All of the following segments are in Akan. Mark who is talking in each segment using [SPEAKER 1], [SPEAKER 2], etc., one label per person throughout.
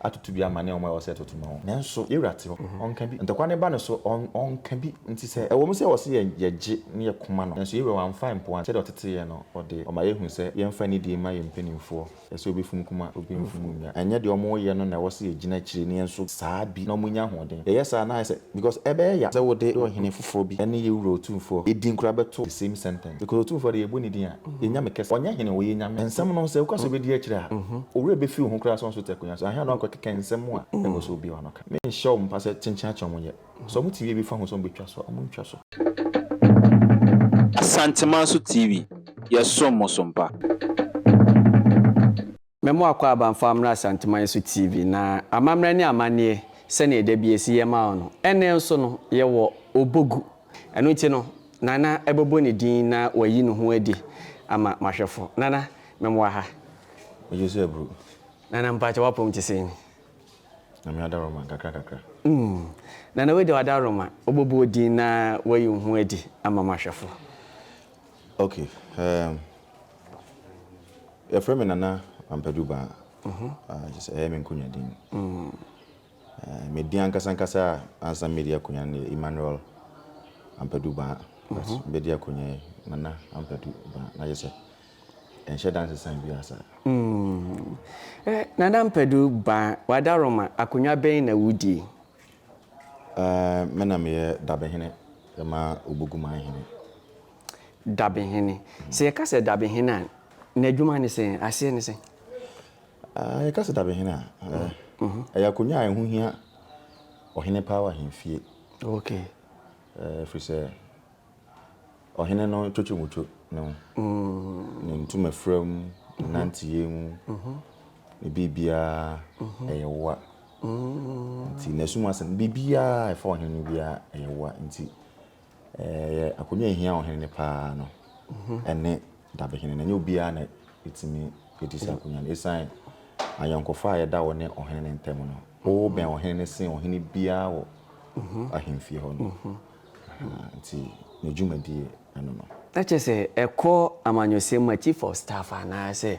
[SPEAKER 1] atoto bi ama ne wɔn a ɛwɔ sɛ ɛtoto ma wɔn. Nanso yɛn Wura te hɔ, Ɔnka bi. Ntɔkwa no ba ne so, Ɔn, Ɔnka bi. Enti sɛ ɛwɔ mu sɛ wɔse yɛn, yɛgye, ne yɛ koma no, nanso yɛn Wura Wamfa ampoano, sɛdeɛ Ɔtete yɛn no, Ɔde, Ɔma yɛhu sɛ yɛmfa nidie mma yɛn mpaninfoɔ, ɛsɛ obi funu kuma, obi mfunu nnua. Ɛnyɛ deɛ wɔyɛ no na ɛwɔ sɛ yɛgyina akyire, nanso saa bi, na wɔnya ahoɔden. Yɛyɛ saa a, na ayɛ sɛ. Because ɛbɛyɛ ya sɛ wo de ɔhene foforɔ bi ne yɛ wura otumfoɔ din kora bɛto the same sentence because otumfoɔ deɛ yɛbɔ ne din a yɛ nyame kɛseɛ ɔnyɛ hene ɔyɛ nyame nsɛm no sɛ woka sɛ wobɛdi akyire a owura bɛfiri wo ho koraa sɛ ɔnso te akonwa so anhwɛ na wakɔ keka nsɛm a ɛwɔ sɛ obiara no ka me nhyɛ wɔn mpa sɛ kyenkyen akyɛ wɔn yɛ sɛ wɔn te wie bi fa ho sɛ wɔn bɛtwa so a wɔn ntwa so.
[SPEAKER 2] Asantemanso TV, yɛsom mo so mpa.
[SPEAKER 3] Mɛ mo akɔ aba mfa mmra Asanteman so TV na amammerɛ ne amanneɛ sɛdeɛ da bi yɛsi yɛ ma wo no, ɛnnɛ nso no yɛwɔ Obogu. Ɛno nti no Nana bɛbɔ ne din na wayi ne ho adi ama m'ahwɛfo. Nana, mɛ mo wɔ ha. Megye so aburo.
[SPEAKER 1] Nana, mpakyɛ
[SPEAKER 3] w'apɔm te sɛn? Nyame
[SPEAKER 1] adaworoma, nkakra nkakra. Mm.
[SPEAKER 3] Nana, wei deɛ w'adaworoma, wobɛbɔ wo din na wayi wo ho adi ama m'ahwɛfo.
[SPEAKER 1] Ok, ehm. Yɛfrɛ me Nana Ampadu Baa, kyerɛ sɛ ɛyɛ me nkonwa din. Me din ankasa ankasa a ansa medi akonwa no yɛ Emmanuel Ampadu Baa. But medi akonwa yi Nana Ampadu Baa na kyerɛ sɛ ɛnhyɛ da nsesan biara saa. Mm. Eh,
[SPEAKER 3] Nana Ampadu Baa, w'adaroma, akonwa bɛn na wudi? Eh,
[SPEAKER 1] me na meyɛ dabehene ma Obuguman hene.
[SPEAKER 3] Dabehene. Sɛ yɛka sɛ dabehene a, n'adwuma ne sɛn? Aseɛ ne sɛn?
[SPEAKER 1] Yɛka sɛ dabehene a, ɛyɛ akonnwa a ɛho hia ɔhene paa wɔ ahemfie.
[SPEAKER 3] Okay. Ɛfiri
[SPEAKER 1] sɛ ɔhene no twotwo muto no, ne ntoma fira mu, ne nanteɛ mu, ne biribiara ɛyɛ woa. Nti n'asum asɛm, biribiara ɛfa ɔhene no biara ɛyɛ woa. Nti Ɛyɛ akonnwa a ehia ɔhene no paa no ne dabehene no. Ɛnyɛ obiara na etumi di saa akonnwa no. Esiane ayɔnkofa a ɛda wo ne ɔhene no ntam no, wobɛn ɔhene no sen ɔhene biara wɔ ahemfie hɔ no. Nti ne dwumadi no no. Na kyerɛ sɛ ɛkɔ
[SPEAKER 3] amanyɔsɛm ma chief of staff anaasɛ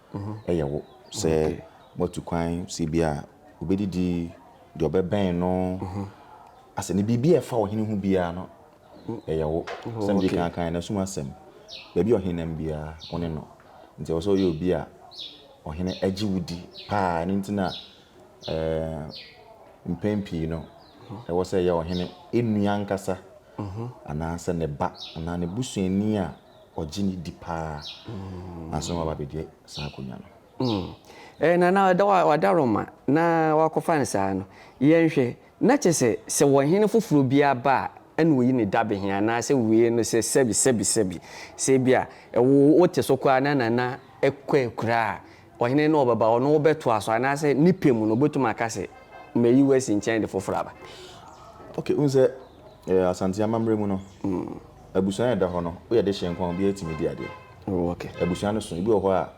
[SPEAKER 1] yɛ wo sɛ moatu kwan sɛ bi a obɛdidi deɛ ɔbɛbɛn no asɛ ne biribi a ɛfa ɔhene ho biara no ɛyɛ wo sɛ mede kan kan na sum asɛm baabi ɔhene nam biara wo ne no nti ɛwɔ sɛ ɔyɛ obi a ɔhene agye wo di paa ne nti na mpɛn pii no ɛwɔ sɛ ɛyɛ ɔhene ɛnua nkasa anaasɛ ne ba anaa ne busuani a ɔgye no di paa ansa na waba abɛgye saa akonnwa no. Hmm. Eh, na na ɔda
[SPEAKER 3] wa- wada Roma na wakɔfa no saa no, yɛnhwɛ. Na kyerɛ sɛ, sɛ ɔhene foforɔ biara ba a, ɛna ɔyi ne dabehene anaasɛ wei no sɛ sɛbi sɛbi sɛbi. Sɛ ebia, ɛwo wote so koraa na Nana kɔ akura a, Ɔhene no ɔbɛba, ɔno wobɛtoa so anaasɛ ne pɛ mu no wobɛtumi aka sɛ mayi wo asi nkyɛn de foforɔ aba? Ok, wohu
[SPEAKER 1] sɛ Asante amammerɛ mu no, abusua a ɛda hɔ no, woyɛ dehyeɛ nko a obiara tumi di adeɛ. Oh ok. Abusua
[SPEAKER 3] no so, ebi wɔ hɔ
[SPEAKER 1] a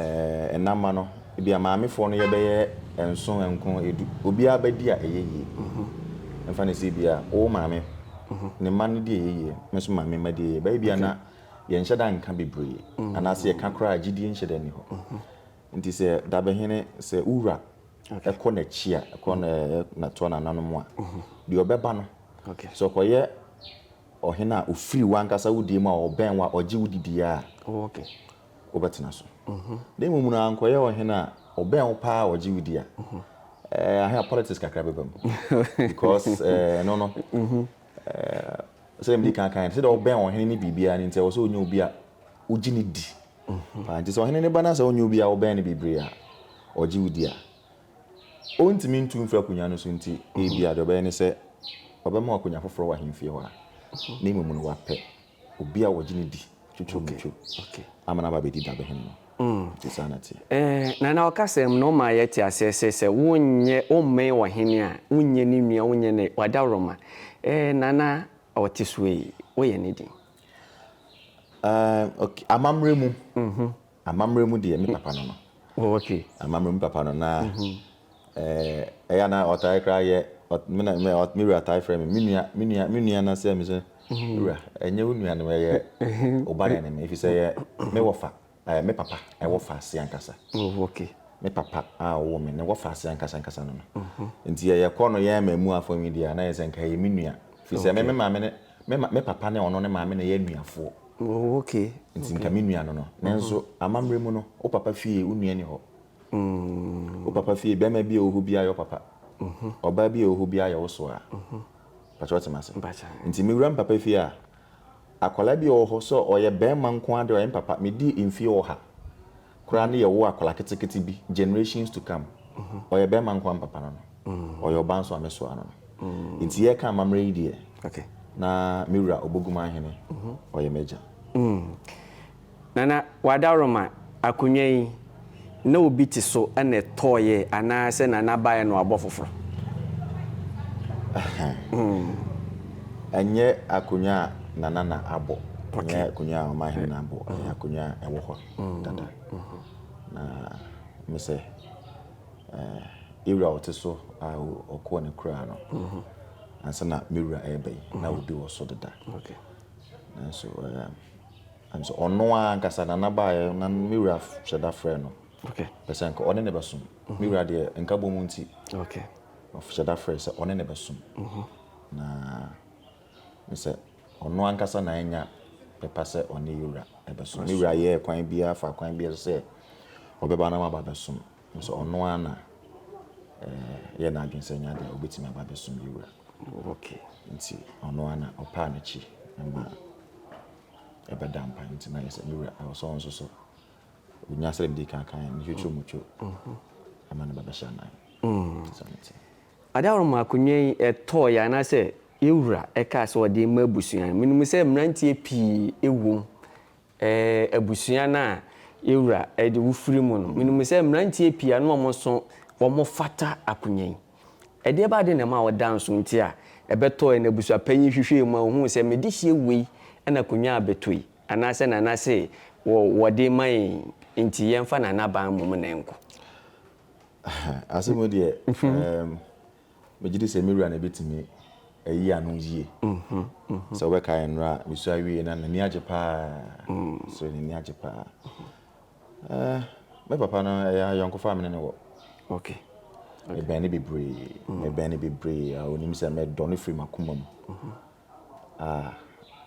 [SPEAKER 1] ɛɛ nna mma no, ebia maamefoɔ no yɛ bɛyɛ nson, nkron, edu, obiara bɛdi a ɛyɛ yie. Yɛmfa no sɛ ebia wo maame ne mma no di a ɛyɛ yie, me nso maame mma di a ɛyɛ yie, ɛbɛyɛ bi a na. Yɛnhyɛ da nka bebree, anaa sɛ yɛka koraa a, gyidie nhyɛ da nni hɔ. Nti sɛ dabehene, sɛ wo wura kɔ n'akyi a, kɔ na toa n'ananom a, deɛ ɔbɛba no, sɛ ɔkɔyɛ ɔhene a ɔfiri w'ankasa wo deɛ mu a ɔbɛn wo a ɔgye wo di deɛ a,
[SPEAKER 3] wobɛtena
[SPEAKER 1] so. Na mmom no, ankɔyɛ ɔhene a ɔbɛn wo paa a ɔgye wo di a, ɛɛ, aha politics kakra bɛba mu. Because ɛno no, Ɛɛ, sɛdeɛ mede kan kan no, sɛdeɛ ɔbɛn ɔhene ne biribiara no nti, ɛwɔ sɛ ɔnya obi a wogye no di paa. Nti sɛ ɔhene no ba na sɛ ɔnyɛ obi a wobɛn no bebree a ɔgye wo di a, ɔntumi ntu mfiri akonnwa no so nti, ebia deɛ ɔbɛyɛ ne sɛ ɔbɛma wo akonnwa foforɔ wɔ ahemfie hɔ a na mmom no wapɛ obi a wɔgye no di twotwo no twu ama no aba abɛdi dabehene no. Enti saa na ɛteɛ. Ɛɛ, Nana
[SPEAKER 3] ɔkasɛm no ma yɛte aseɛ sɛ, sɛ wonyɛ, wommɛn ɔhene a, wonyɛ ne nua, wonyɛ ne, w'adaworoma. Ɛɛ, Nana a ɔte soɔ yi, woyɛ ne den? Ɛɛ,
[SPEAKER 1] ok, amammerɛ mu, Amammerɛ mu deɛ me papa no no. Oh okay.
[SPEAKER 3] Amammerɛ mu papa no na
[SPEAKER 1] eh, ɛyɛ na ɔtae koraa yɛ me na me me wura tae frɛ me me nua me nua me nua na sɛ me sɛ wura ɛnyɛ wo nua no ɛyɛ ɔba na ne me efisɛ yɛ me wɔfa ɛɛ me papa ɛwɔ fa ase ankasa. Oh okay. Me
[SPEAKER 3] papa
[SPEAKER 1] a ɔwɔ me ne wɔfa ase ankasa ankasa no no. Nti yɛ yɛ kɔ no yɛ ma emu afɔ nwi deɛ a na yɛ sɛ nka yɛ me nua efisɛ me me maame ne Me ma, me papa ne ɔno ne maame na ɛyɛ anuafoɔ. Oh, okay.
[SPEAKER 3] Nti nka me nua
[SPEAKER 1] no no. Nanso, amammerɛ mu no, wo papa fie, wo nua nni hɔ. Wo papa fie, barima bi a ɔwɔ hɔ biara yɛ wo papa. Ɔbaa bi a ɔwɔ hɔ biara yɛ wo soaa. Mpakyɛ wote m'ase? Nti me wura me papa fie a, akwadaa bi a ɔwɔ hɔ sɛ ɔyɛ barima nko ara deɛ ɔyɛ me papa. Medii mfeɛ ɔha. Koraa no yɛ wo akwadaa ketekete bi generations to come ɔyɛ bɛɛma nkoa mpapa no no ɔyɛ ɔbaa nso a mɛsoa no no nti yɛɛka amamerɛ yi deɛ na
[SPEAKER 3] me wura
[SPEAKER 1] Oboguma ahene ɔyɛ m'agya. Mm. Nana
[SPEAKER 3] Wadaroma, akonnwa yi, na obi te so na ɛtɔeɛ anaa sɛ Nana baeɛ na wabɔ foforɔ?
[SPEAKER 1] Ɛnyɛ akonnwa a Nana na abɔ, ɛnyɛ akonnwa a Ɔmanhene na abɔ, ɛyɛ akonnwa a ɛwɔ hɔ. dada. Na mesɛ ewura ɔte so a ɔkɔɔ ne kura no ansa na me wura ɛreba yi na obi wɔ so deda
[SPEAKER 3] nanso
[SPEAKER 1] nanso ɔno ara ankasa nana baayɛ na me wura hyɛ da frɛ no pɛ sɛ nka
[SPEAKER 3] ɔne ne bɛsom
[SPEAKER 1] me wura deɛ nka bɔ mu nti ɔhyɛ
[SPEAKER 3] da frɛ
[SPEAKER 1] sɛ ɔne ne bɛsom na ne sɛ ɔno ankasa na anya pepa sɛ ɔne yɛ wura bɛsom. Ne wura yɛɛ kwan biara, faa kwan biara so sɛ ɔbɛba na waba abɛsom. Nanso ɔno ara na ɛyɛɛ n'adwene sɛ ɛnyɛ ade a obetumi aba abɛsom yɛ wura.
[SPEAKER 3] Nti
[SPEAKER 1] ɔno ara na ɔpaa n'akyi ma ɛbɛda mpan. Nti na yɛ sɛ ne wura ɛwɔ sɛ ɔno nso so onya sɛdeɛ mede kan kan ne twitwi mu two ama ne ba bɛhyɛ anan. Ade
[SPEAKER 3] a ɔma akonnwa yi tɔeɛ anaasɛ Yɛn Wura kaa sɛ ɔde rema abusua no. Menim sɛ mmeranteɛ pii wom, ɛɛ, abusua no a yɛn Wura de wo firi mu no. Menim sɛ mmeranteɛ pii a na wɔn nso wɔfata akonya yi. Ɛdeɛ ba adeɛ na ɛma woda nso nti a ɛbɛtɔeɛ na abusuapanyin yi hwehwɛɛ mu a ɔhuu sɛ me dehyeɛ wei na akonya abɛtɔ yi anaasɛ Nana se wɔ wɔde rema yɛn yi nti yɛmfa Nana baa mmom na ɛnkɔ.
[SPEAKER 1] Asemudeɛ, ɛɛm, Megye di sɛ me wura na ebetumi ayi ano yiye. Sɛ wobɛkae nnora a misua wiei no, na n'ani agye paa. So n'ani agye paa? Eh, me papa no, ɛyɛ ayɔnkofa a me ne no wɔ. Okay.
[SPEAKER 3] Mebɛn
[SPEAKER 1] no bebree. Mebɛn no bebree a onim sɛ medɔ no firi m'akoma mu. Ah,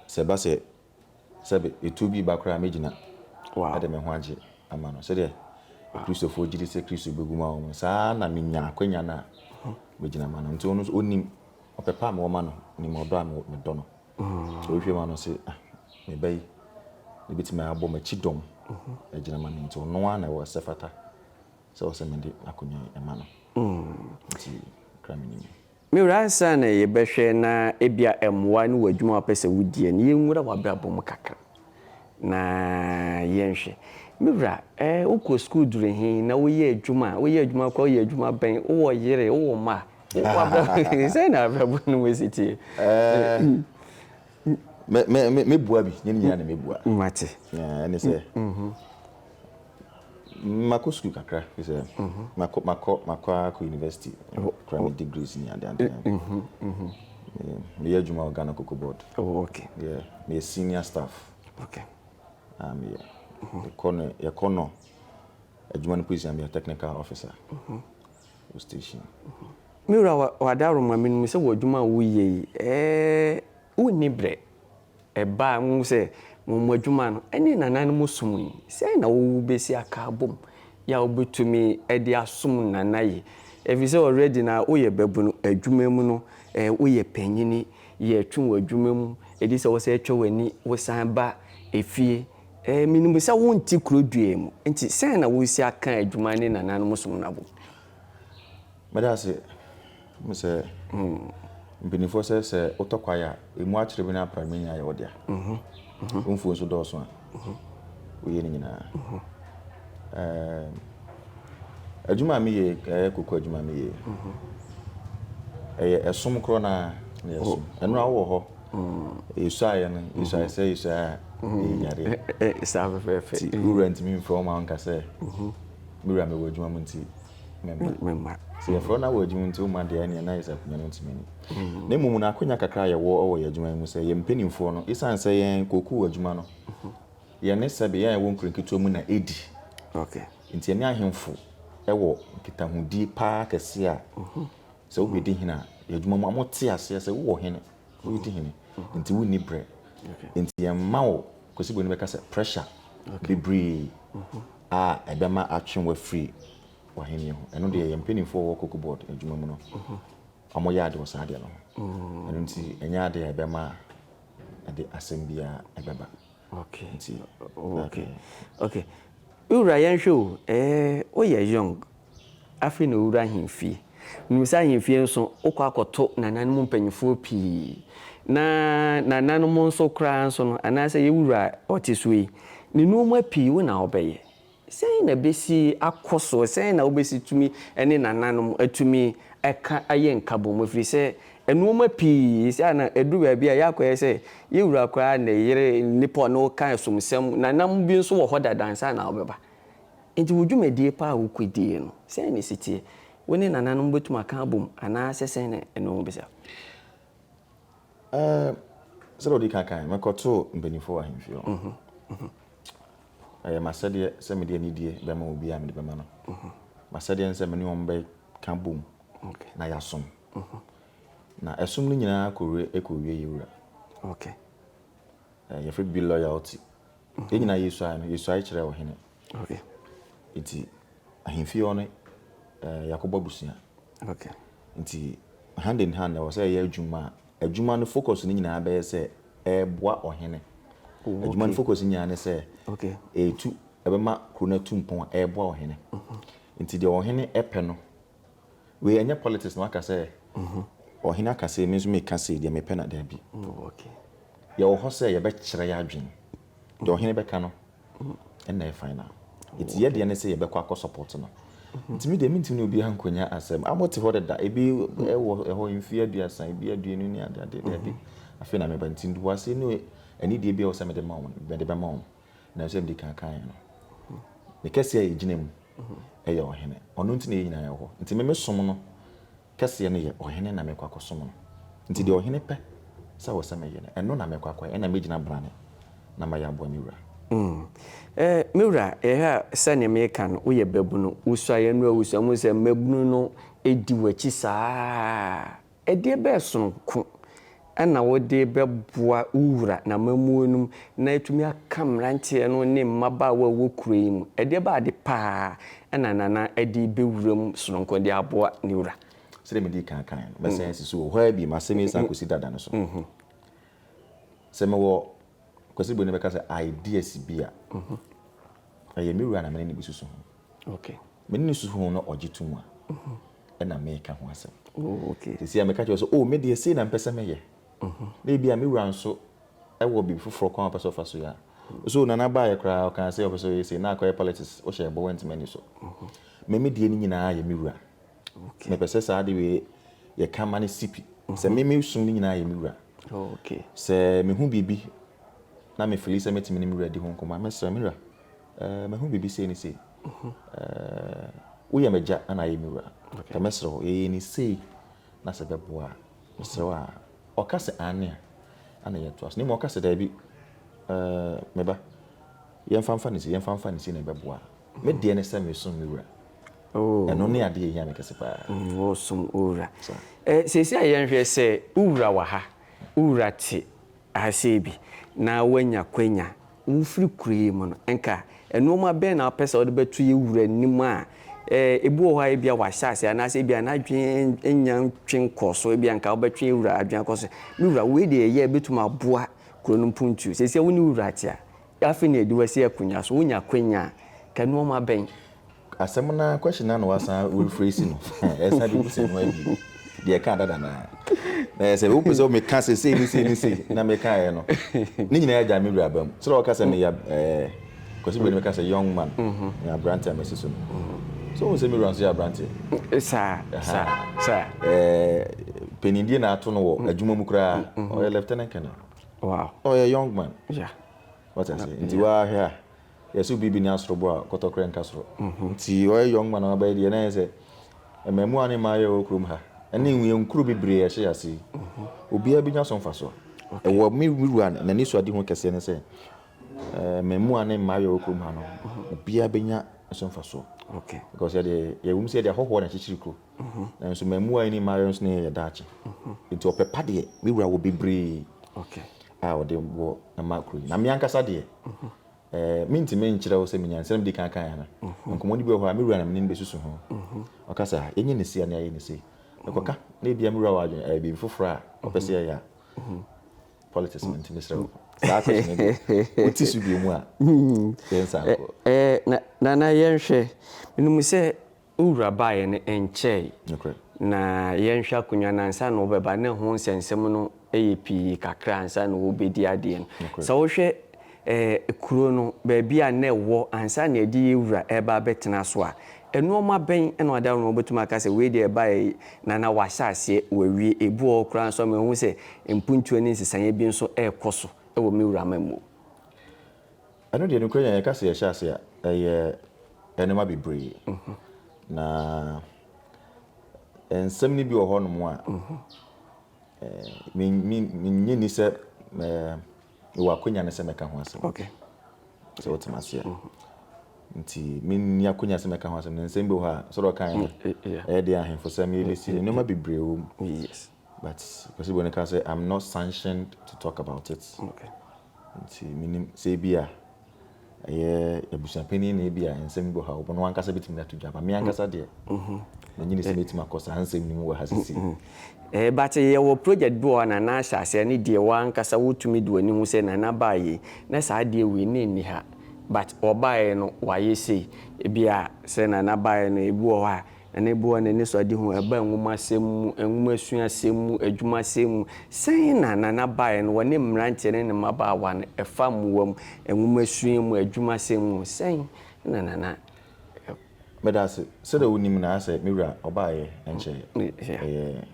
[SPEAKER 1] sɛ ɛba sɛ sɛ etuo bi reba koraa a, mɛgyina de me ho
[SPEAKER 3] agye
[SPEAKER 1] ama no. Sɛdeɛ Akristofoɔ gye di sɛ Kristo bɛwu ma wɔn no, saa ara na menya akwanya no a, mɛgyina ma no. Nti ɔno nso ɔnim ɔpɛ pa a mewɔ ma no, nim ɔdɔ a medɔ no. Sɛ ɔhwɛ mu a, ɔno se, ah, me ba yi, ɛbɛtumi abɔ m'akyi dɔm agyina ma no. Nti ɔno ara na ɛwɔ sɛ fata sɛ ɔsɛ mede akonnwa yi ma no. Nti kra menim. Me wura ansa
[SPEAKER 3] na yɛ bɛ hwɛ na ebia ɛmoa ne wɔ adwuma a wopɛ sɛ wo diɛ no yɛ nwura w'abrabɔ mu kakra na yɛ nhwɛ me wura eh wo kɔ sukuu duru he na wo yɛ adwuma a wo yɛ adwuma koraa wo yɛ adwuma bɛn wo wɔ yere wo wɔ mma wo w'abrabɔ sɛn na abrabɔ no mu si teɛ
[SPEAKER 1] eh me me me bua bi nyɛ ne nyinaa na me bua mate eh ɛne
[SPEAKER 3] sɛ
[SPEAKER 1] Makɔ sukuu kakra fi sɛ makɔ makɔ makɔ ara kɔ university kura me degrees ni ade ade. Meyɛ adwuma wɔ Ghana Cocoa Board. Oh okay. Yeah,
[SPEAKER 3] meyɛ
[SPEAKER 1] senior staff. Okay.
[SPEAKER 3] Ah meyɛ. Yɛkɔ
[SPEAKER 1] no yɛkɔ nɔ adwuma no position meyɛ technical officer. Wɔ station.
[SPEAKER 3] Me wura wɔ ade aroma me no mu sɛ wɔ adwuma a woyɛ yi ɛɛ wonni brɛ. ɛbaa mu sɛ wɔn adwuma no ne nananom som ni. Sɛn na wobesi aka abom yi a wobetumi de asom nana yi? Efisɛ already na woyɛ babunu, adwuma mu no woyɛ panyin, yɛtwe wo adwuma mu, edi sɛ wosan twa w'ani wosan ba efie. Minim sɛ wonte kuro duaa mu, enti sɛn na woresi aka adwuma ne nananom som no abom?
[SPEAKER 1] Meda ase. Wohu sɛ mpanimfoɔ sɛ sɛ wotɔ kwaeɛ a, ɛmu akyere bi no ara pra me nyinaa yɛ wo dea. Wo mfuo nso dɔɔso a, woyɛ ne nyinaa. Ɛɛm, adwuma a meyɛ yi, ɛyɛ koko adwuma a meyɛ yi, ɛyɛ ɛsom korɔ no ara na yɛsom. Ɛno a wowɔ hɔ, yɛsuaeɛ no, yɛsuaeɛ sɛ yɛsuaeɛ a ɛyɛ nyadeɛ. Ɛ, ɛ, saa fɛfɛɛfɛ.
[SPEAKER 3] Nti wo wura ntumi mfrɛ wo mma
[SPEAKER 1] wo nka sɛ, Me wura, mewɔ adwuma mu nti, me mma. Me mma. Sɛ yɛfrɛ wo na wɔ adwuma nti womma deɛ ɛneɛ na ayɛ sɛ akonnwa no ntumi ni. Mm. Na mmom no akonnwa kakra a yɛwɔ wɔ yɛn adwuma yi mu sɛ yɛn mpanimfoɔ no, ɛsiane sɛ yɛn kookoo adwuma no, yɛne sɛbe yɛn a yɛwɔ nkuro nketewa mu na ɛdi. Okay.
[SPEAKER 3] Nti yɛne ahemfo
[SPEAKER 1] wɔ nkitahodie paa kɛseɛ a mhm. sɛ wobɛdi hene a yɛadwuma mu a mote aseɛ sɛ wowɔ hene wodi hene mhm. nti wonni berɛ nti yɛmma wo kwasibo no bɛka sɛ pressure bebree mhm. a ɛbɛma atwe w'afiri w'ahennie ho. Ɛno deɛ yɛn mpanimfoɔ a wɔwɔ Cocoa Board adwuma mu no, wɔyɛ ade wɔ saa adeɛ no ho. Ɛno nti ɛnyɛ adeɛ a ɛbɛma ɛde asɛm biara ɛbɛba. Okay. Nti,
[SPEAKER 3] okay. Okay. Wura yɛnhwɛ o, eh, woyɛ young. Afei na ɔrewura ahemfie. Menim sɛ ahemfie nso, wokɔ akɔto nananom mpanimfoɔ pii. Na nananom nso koraa nso no, anaasɛ yɛn wura a ɔte so yi, ne nnoɔma pii wo na wobɛyɛ. Sɛn na ɛbɛsi akɔ soɔ? Sɛn na wobɛsi tumi ne nananom atumi aka ayɛ nkabom? Ɛfiri sɛ, nnoɔma pii, seesei a na ɛduru baabi a yɛakɔyɛ sɛ yɛn wura koraa ne yere, nnipa a ɔne wo ka ɛsomsɛm, nananom bi nso wɔ hɔ dada ansa na wɔbɛba. Enti wo dwumadie pa a wokɔdie no, sɛn na ɛsi teɛ? Wo ne nananom bɛtumi aka abom anaasɛ sɛn na ɛne wɔn bɛsi akɔ? Ɛɛ,
[SPEAKER 1] sɛdeɛ wodi kan kaeɛ no, mekɔtoo mpanimfoɔ wɔ ahemfie hɔ. Ɛyɛ m'asɛdeɛ sɛ mede anidie bɛma obiara a mede bɛma no. M'asɛdeɛ ne sɛ me ne wɔn bɛka bom na yɛasom. Na ɛsom no nyinaa kɔwiee yɛn Wura. Yɛfrɛ biribi loyalty. Yɛn nyinaa yɛsuae no, yɛsuae kyerɛɛ ɔhene.
[SPEAKER 3] Nti
[SPEAKER 1] ahemfie hɔ no, eh, yɛakɔbɔ abusua.
[SPEAKER 3] Nti
[SPEAKER 1] hand in hand, ɛwɔ sɛ yɛyɛ adwuma a adwuma no focus no nyinaa bɛyɛ sɛ ɛreboa ɔhene. Oh, adwuma no focus nyinaa ne sɛ ɛretu
[SPEAKER 3] ɛbɛma
[SPEAKER 1] kuro no atu mpɔn a ɛreboa ɔhene. Mhm. Nti deɛ ɔhene pɛ no Wei ɛnyɛ politics na waka sɛ ɔhene aka sei me nso meka sei deɛ mepɛ na daabi.
[SPEAKER 3] Yɛwɔ hɔ
[SPEAKER 1] sɛ yɛbɛkyerɛ yɛ adwene. Deɛ ɔhene bɛka no ɛna yɛ final. Nti yɛ deɛ ne sɛ yɛbɛkɔ akɔ support no. Nti me deɛ mentimi ne obiara nkɔnya asɛm. A mote hɔ deda ebi ɛwɔ ɛhɔ mfie aduasa ebi aduonu ne adeade daabi. Afei na meba nti ntoboaseɛ ne anideɛ bi a ɛwɔ sɛ mede ma wɔn mede bɛma wɔn. na ɛsɛ mede kan kan yɛ no ne kɛseɛ a ɛgyina mu ɛyɛ ɔhene ɔno nti na yɛ nyinaa yɛ hɔ nti me mesom no kɛseɛ no yɛ ɔhene na mekɔ akɔsom no nti deɛ ɔhene pɛ sɛ wɔ sɛ meyɛ no ɛno na mekɔ akɔyɛ ɛna mɛgyina brane na mayɛ aboa me wura mm. eh, me wura yɛhwɛ a sɛdeɛ meka no woyɛ babunu wosuaeɛ no a wosua mu sɛ mmabunu no ɛdi w'akyi saa Ɛdeɛ bɛɛ sononko na wode bɛboa wo wura n'amammuo no mu na atumi aka mmeranteɛ no ne mmabaawa a ɛwɔ kuro yi mu? Ɛdeɛ bɛɛ ade pa ara na Nana de bɛwura mu sononko de aboa ne wura? Sɛdeɛ medii kan kaeɛ no, mɛsan asi so wɔ hɔ ara bio, asɛm yi san kɔsi dada no so. Sɛ mewɔ Kwasi Boney bɛka sɛ ideas bi a, ɛyɛ me wura na me ne no bɛsusu ho. Ok. Me
[SPEAKER 3] ne no susu ho
[SPEAKER 1] na ɔgye to mu a, ɛna meka ho asɛm. Oh, ok. Sisi a
[SPEAKER 3] meka kyerɛ sɛ, oh,
[SPEAKER 1] me deɛ sei na mpɛ sɛ mɛyɛ. Na ebi a me wura nso wɔ biribi foforɔ kwan a ɔpɛ sɛ ɔfa so yɛ a. So Nana baeɛ koraa ɔkaa sɛ ɔpɛ sɛ ɔyɛ sei, na akɔyɛ politics, wohyɛ ɛbɔ wantumi ani so. Me me deɛ no nyinaa yɛ me wura. Ok. Mepɛ sɛ saa ade wei yɛka ma no si pi. Sɛ me me som no nyinaa yɛ me wura. Oh, ok. Sɛ
[SPEAKER 3] mehu biribi
[SPEAKER 1] na me fili sɛ mɛtumi ne me wura adi ho nkɔmmɔ a, mɛsrɛ me wura. Eh, mahu biribi sei ne sei. Eh, woyɛ m'agya ana ayɛ me wura? Okay. Mɛsrɛ wo, yɛyɛ ne sei na sɛ bɛboa a, mesrɛ wo a. Ɔka sɛ aane a, ana yɛtoa so. Na mmom ɔka sɛ daabi, eh, me ba, yɛmfa mfa ne sei, yɛmfa mfa ne sei na ɛbɛboa a. Me deɛ ne sɛ mesom me wura. Oh. Ɛno ne adeɛ ɛhia me kɛse paa. Mm, wɔsom wo wura.
[SPEAKER 3] Eh, seesei a yɛnhwɛ sɛ wo wura wɔ ha, wo wura te Ahasee bi, na woanya kwanya, wofiri kuro yi mu no, nka nnoɔma bɛn na wopɛ sɛ wode bɛto yɛn wura anim a ɛbi wɔ hɔ a ebia wahyɛ aseɛ anaasɛ ebia n'adwene nnya ntwe nkɔɔ so, ebia nka wobɛtwe yɛn wura adwene akɔ so. Me wura, wei deɛ ɛyɛ a ɛbɛtumi aboa kuro no mpuntuo. Seesei wo ne wo wura te a, afei na yɛde wo asi akonnwa so, wonya kwanya a, nka nnoɔma bɛn Asɛm no ara
[SPEAKER 1] question no ara na wɔasan rephrase no. Ɛsan bebisa ɛno ara bio. Deɛ ɛkaa dada no ara. Na ɛyɛ sɛ wopɛ sɛ meka sɛ sei ne sei ne sei na mekaeɛ no. Ne nyinaa agya me wura aba mu. Sɛ wɔka sɛ meyɛ ɛɛ Kwasi Bua no meka sɛ young man. Meyɛ aberanteɛ a masi so no. So wohu sɛ me wura nso yɛ aberanteɛ. Saa
[SPEAKER 3] saa saa. Ɛɛ
[SPEAKER 1] panindie na ato no wɔ adwuma mu koraa. Ɔyɛ lieutenant colonel. Wow. Ɔyɛ
[SPEAKER 3] young man.
[SPEAKER 1] Yeah.
[SPEAKER 3] Wɔte ase.
[SPEAKER 1] Nti woahwɛ a. Yɛse obi benya soro bo a, kɔtɔkorɛ nka soro. Nti ɔyɛ young man a wabɛyɛ deɛ na ɛyɛ sɛ mmɛɛmuwaa ne mmaayɛ a ɛwɔ kurom ha ɛne nwiankuro bebree a ɛhyɛ yɛ ase yi, obiara benya so mfasoɔ. Ɛwɔ me wura n'anisoadehu kɛseɛ ne sɛ mmɛɛmuwaa ne mmaayɛ a ɛwɔ kurom ha no, obiara benya so mfasoɔ. Because yɛde,
[SPEAKER 3] yɛwom
[SPEAKER 1] sɛ yɛde ahɔhoɔ na akyekyere kuro, nanso mmɛɛmuwaa yi ne mmaayɛ nso na ɛyɛ yɛ daakye. Nti ɔpɛ pa deɛ, me wura wɔ bebree. a
[SPEAKER 3] wɔde bɔ
[SPEAKER 1] ma kuro yi. Na me ankasa deɛ, mentumi nkyerɛ wo sɛ menya nsɛm di kan kan ana. Nkɔmmɔdi bi wɔ hɔ a, me wura na menim bɛsusu ho. Ɔka sɛ, yɛnyɛ ne sei anaa yɛyɛ ne sei. Mekɔka, na ebia me wura wɔ adwene ɛyɛ biribi foforɔ a ɔpɛ sɛ yɛyɛ a. Politics no nti mesrɛ wo. Saa question no deɛ, wote so bio mu a, yɛnsa nkɔ. Nana
[SPEAKER 3] yɛnhwɛ. Menim sɛ Wo wura baeɛ no ɛnkyɛe. Nokorɛ. Na yɛnhwɛ akonnwa no ansa na wobɛba na ɛho nsɛnsɛm no yɛ pii kakra ansa na wobɛdi adeɛ no. Nokorɛ. Sɛ wohwɛ ɛɛ kuro no baabi a na ɛwɔ ansa na yɛde yɛn wura reba abɛtena so a, nnoɔma bɛn na wɔde aworɔ na wobɛtumi aka sɛ wei deɛ ɛbaeɛ yi na na wɔahyɛ aseɛ wɔawie. Ebi wɔ hɔ koraa nso a mahu sɛ mpuntuo ne nsesaeɛ bi nso rekɔ so wɔ me wura amammuo.
[SPEAKER 1] Ɛno deɛ nokorɛ nya yɛka sɛ yɛhyɛ ase a ɛyɛ nnoɔma bebree na nsɛm no bi wɔ hɔ nom a menyɛ ni sɛ mewɔ akonya no sɛ mɛka ho asɛm
[SPEAKER 3] sɛ wotema
[SPEAKER 1] ase a nti menni akonya sɛ mɛka ho asɛm no nsɛm bi wɔ hɔ a sɛ dɛ ɔka ɛyɛ deɛ ahemfo sɛ meyɛbɛsi nnoɔma bebree wɔ mu but Ɔsebɔ no ka sɛ I'm not sanctioned to talk about it. Okay.
[SPEAKER 3] Nti
[SPEAKER 1] menim sɛ ebi a ɛyɛ abusuapanin na ebi a nsɛm bi wɔ ha wɔn ankasa betumi de ato dwa ba me ankasa deɛ menye ne sɛ metumi akɔ saa nsɛm no mu wɔ ha sisi. Eh, but
[SPEAKER 3] yɛwɔ project bi wɔ hɔ a nana ahyɛ aseɛ ne deɛ wɔ ankasa wotumi de w'ani hu sɛ nana baa yei na saa adeɛ wei na ɛnni ha but ɔbaeɛ no wayɛ sei ebi a sɛ nana baeɛ no ebi wɔ hɔ a ne bo ne anisoadehu a ɛbaa nwomasɛm mu, nwomasua-sɛm mu, adwumasɛm mu. Sɛn na Nana baeɛ no wɔ ne mmeranteɛ ne ne mmabaawa no ɛfa mmoa mu, nwomasua mu, adwumasɛm mu? Sɛn na Nana.
[SPEAKER 1] Meda ase. Sɛdeɛ wonim no ara sɛ me wura ɔbaeɛ nkyɛeɛ. Ɛyɛ